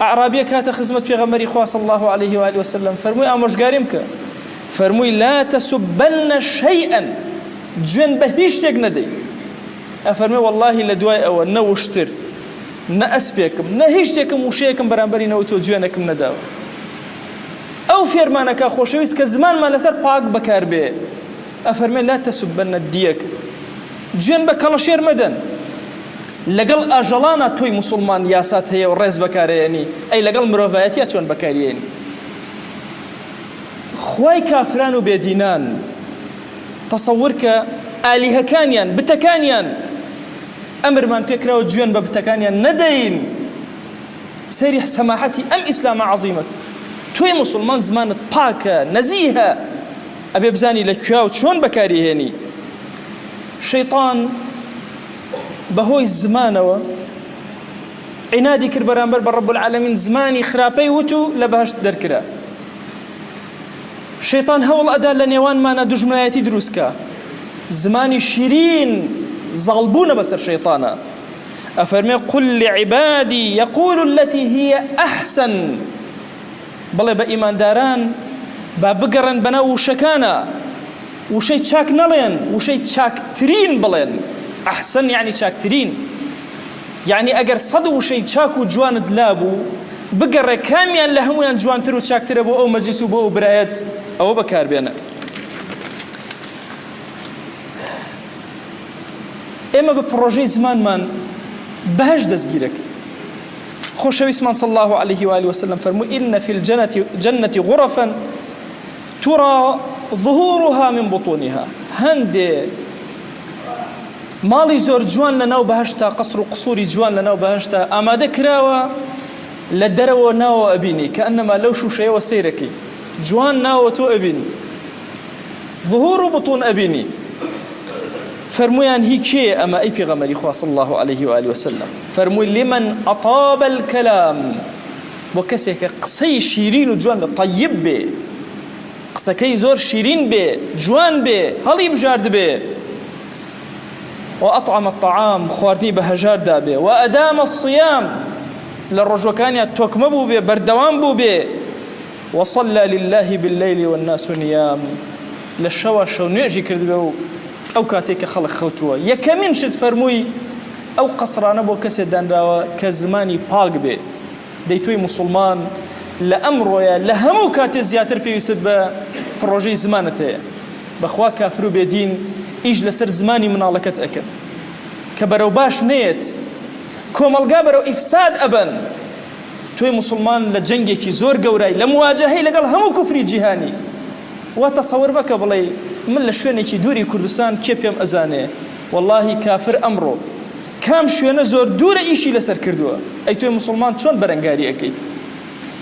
ئەعرابیەک هاتە خزمەت پێغەمبەری خوا صلی الله علیه و آله وسلم فەرمووی ئامۆژگاریم بکە فەرمووی لا تسبن شيئا جوێن بە هیچ شتێک نەدەی ئەفەرمێ واللهی لە دوای ئەوە نەوشتر نە ئەسپێکم نە هیچ شتێکم وشەیەکم بەرامبەری نەوت و جوێنەکم نەداوە ئەو فێرمانەکە خۆشەویست کە زمانمان لەسەر پاک بەکاربێ ئەفەرمێ لا تسبن الدیەک، جوێن بە کەڵەشێر مەدەن، لەگەڵ ئاژەڵانا تۆی موسوڵمان یاسات هەیە و ڕێز بەکارئەیەنی، ئەی لەگەڵ مرۆڤایەتیا چۆن بەکاریەیەنی؟ خوای کافران و بێ دینان تەسەور کە ئالیهەکانیان، بتەکانیان، ئەمرمان پێ کراوە جوێن بە بتەکانیان نەدەین، سەیری سەماحەتی ئەم ئیسلامە عەزیمەت، تۆی موسوڵمان زمانت پاکە، نەزیهە، ئەبێ بزانی لە کوێاو چۆن بەکاری هێنی شەیتان بەهۆی زمانەوە عینادی کرد بەرامبەر بە ڕب العالمین زمانی خراپەی وت و لە بەهشت دەرکرا شەیتان هەوڵ ئەدا لە نێوانمانە دژمنایەتی دروستکە زمانی شیرین زاڵبوونە بەسەر شەیتانە ئەفەرمێ قل لعبادی یقول التي هي ئەحسن بڵێ بە ئیمانداران با بگەڕێن بەناو وشەکانا وشەی چاک نەڵێن وشەی چاکترین بڵێن ئەحسن یعنی چاکترین یعنی ئەگەر سەد وشەی چاک و جوانت لابوو بگەڕێ کامیان لە هەمویان جوانتر و چاکترە بۆ ئەو مەجلیس و بۆ ئەو برایەت ئەوە بەکاربێنە ئێمە بە پڕۆژەی زمانمان بەهش دەستگیرەکە خۆشەویستمان صلی اللە علیه و آله و سلم فەرمووی ان فی الجنە غرفا ترا ظهورها من بطونها هەندێ ماڵی زۆر جوان لە ناو بەهشتا قەسر و قسووری جوان لە ناو بەهشتا ئامادە کراوە لە دەرەوە ناوە ئەبینی کە ئەنەما لەو شوشەیەوە سیرەکەی جوان ناوە تۆ ئەبینی ظهور و بطون ئەبینی فەرمویان هی کێ ئەمە ئەی پێغەمەری خوا صلی الله علیه و آله وسلم فەرمووی لمن اطاب الكلام بۆ کەسێکە قسەی شیرین و جوان بە طیب بێ قسەکەی زۆر شیرین بێ جوان بێ هەڵی بژارد بێ وأطعم الطعام خواردنی بە هەژار دابێ وأدام الصيام لە ڕۆژەکانیان تۆکمە بوو بێ بەردەوام بوو بێ وصلى للە باللیل والناس نیام، لە شەوا شەو نوێژی کردبێ و ئەو کاتەی کە خەڵک خەوتووە، یەکەمین شت فەرمووی، ئەو قەسرانە بۆ کەسێ دانراوە کە زمانی پاک بێ، دەی تۆی موسڵمان لە ئەمڕۆیە لە هەموو کاتێ زیاتر پێویستت بە پڕۆژەی زمانت هەیە، بەخوا کافر و بێ دین ئیش لەسەر زمانی مناڵەکەت ئەکەن کە بەرەو باش نەیەت کۆمەڵگا بەرەو ئیفساد ئەبەن. تۆی موسڵمان لە جەنگێکی زۆر گەورای لە مواجەهەی لەگەڵ هەموو کوفری جیهانی وا تەسەور مەکە بڵێی من لە شوێنێکی دووری کوردستان کێ پێم ئەزانێ وەڵاهی کافر ئەمڕۆ کام شوێنە زۆر دوورە ئیشی لەسەر کردووە ئەی تۆی موسڵمان چۆن بەرەنگاری ئەکەیت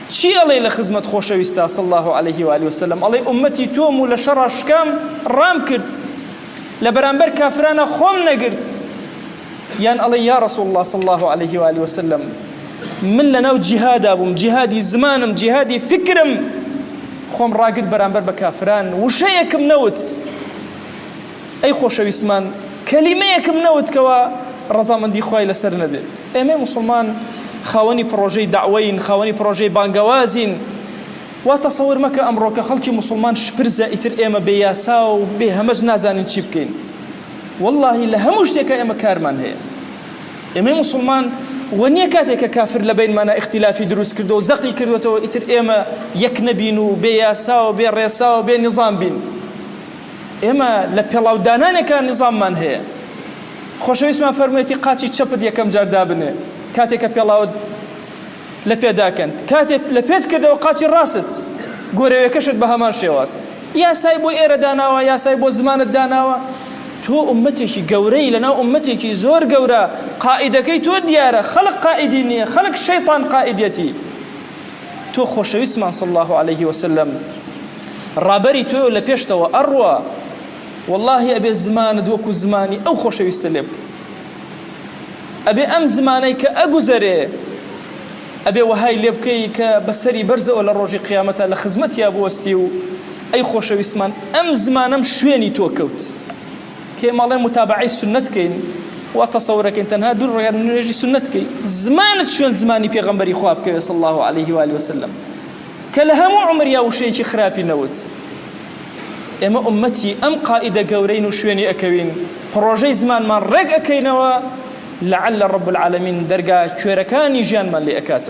چی ئەڵێی لە خزمەت خۆشەویستا صلی الله علیه و آله وسلم ئەڵێ ئومەتی تۆم و لە شەڕا شکام ڕام کرد لە بەرامبەر کافرانە خۆم نەگرت یان ئەڵێ یا رسول الله صلی الله علیه و آله وسلم من لەناو جیهادا بووم جیهادی زمانم جیهادی فکرم خۆم ڕاگرت بەرامبەر بە کافران وشەیەکم نەوت ئەی خۆشەویستمان کەلیمەیەکم نەوت کەەوە ڕەزامەندی خی لەسەر نەبێت ئێمە مسلمان خاوەنی پرۆژەی داوەین خاوەنی پرۆژەی بانگەوازین وا تەسەور مەکە ئەمڕۆکە خەڵکی مسلمان شپرزە ئیتر ئێمە بێ یاسا و بێ هەمەش نازانین چی بکەین وەڵاهی لە هەموو شتێکا ئێمە کارمان هەیە ئێمەی موسڵمان وە نییە کاتێک کە کافر لە بینمانە ئختیلافی دروست کردو و زەقی کردوێتەوە ئیتر ئێمە یەک نەبین و بێ یاسا و بێ ڕێسا و بێ نظام بین ئێمە لە پێڵاودانانێکان نظاممان هەیە خۆشەویستمان فەرموویەتی قاچی چەپت یەکەم جار دابنێ کاتێکە پێڵاوت لە پێداکەنت کاتێ لە پێت کردەوە قاچی ڕاست گۆرەوێکەشت بە هەمان شێواز یاسای بۆ ئێرە داناوە یاسای بۆ زمانت داناوە تۆ ئومەتێکی گەورەی لەناو ئومەتێکی زۆر گەورە قائیدەکەی تۆ دیارە خەلق قائیدی نییە خەلق شەیطان قائیدەتی تۆ خۆشەویستمان صلی الله عليه وسلم ڕابەری تۆ لە پێشتەوە ئەڕوا واللهی ئەبێ زمانت وەکو زمانی ئەو خۆشەویستە لێ بکە ئەبێ ئەم زمانەی کە ئەگوزەرێ ئەبێ وەهای لێ بکەی کە بە سەری بەرزەوە لە ڕۆژی قیامەتا لە خزمەتیا بوەستی و ئەی خۆشەویستمان ئەم زمانەم شوێنی تۆ کەوت کێ ماڵێ متابعەی سنت کەین وا تەسەورەکەین تەنها دوور ڕێگە نوێژی سنت کەی زمانت شوێن زمانی پێغەمبەری خواب کەوێ صلی الله عليه و آله وسلم کە لە هەموو عمریا وشەیەکی خراپی نەوت ئێمە ئوممەتی ئەم قائیدە گەورەین و شوێنی ئەکەوین پڕۆژەی زمانمان ڕێک ئەکەینەوە لەعل رب العالمین دەرگا کوێرەکانی ژیانمان لێ ئەکاتەوە.